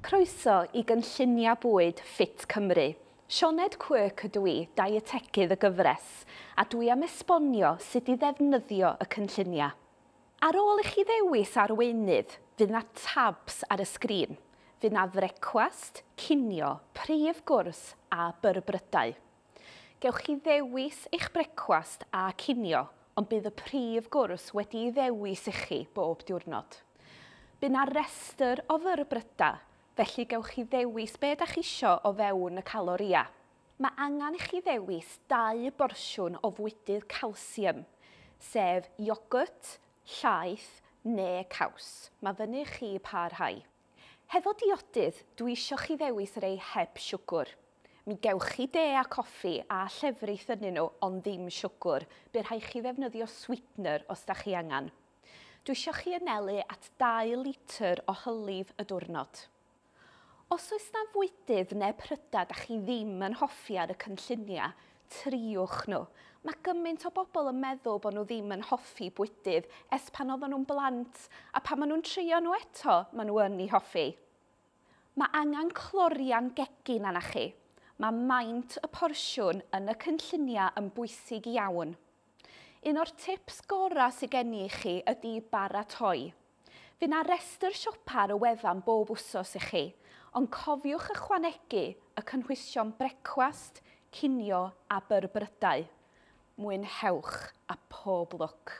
Croeso i gynlluniau bwyd ffit Cymru. Sioned Quirk ydw i, dietegydd y gyfres, a dwi am esbonio sut i ddefnyddio y cynlluniau. Ar ôl i chi ddewis arweinydd, fydd 'na tabs ar y sgrin. Fydd 'na frecwast, cinio, prif gwrs a byrbrydau. Gewch chi ddewis eich brecwast a cinio, ond bydd y prif gwrs wedi'i ddewis i chi bob diwrnod. Bu 'na restr o fyrbrydau, felly gewch chi ddewis be' 'dach isio o fewn y caloria. Mae angen i chi ddewis dau borsiwn o fwydydd calsium, sef iogwrt, llaeth neu caws, mae fyny i chi pa rhai. Hefo diodydd, dw i isio chi ddewis rei heb siwgr. Mi gewch chi de a coffi a llefrith ynnyn nhw ond ddim siwgr, bu rhai chi ddefnyddio sweetener os da chi angan. Dw isio chi anelu at dau litr o hylif y dwrnod. Os oes na fwydydd ne prydau da chi ddim yn hoffi ar y cynlluniau, Triwch nhw. Mae gymaint o bobl yn meddwl bod nhw ddim yn hoffi bwydydd ers pan oedden nhw'n blant, a pan maen nhw'n trio nhw eto, maen nhw yn eu hoffi. Mae angen clorian gegin arna chi. Mae maint y porsiwn yn y cynlluniau yn bwysig iawn. Un o'r tips gorau sydd gen i i chi ydy baratoi. Fydd 'na restr siopa ar y wefan bob wsos i chi, ond cofiwch ychwanegu y cynhwysion brecwast, cinio a byrbrydau. Mwynhewch a pob lwc!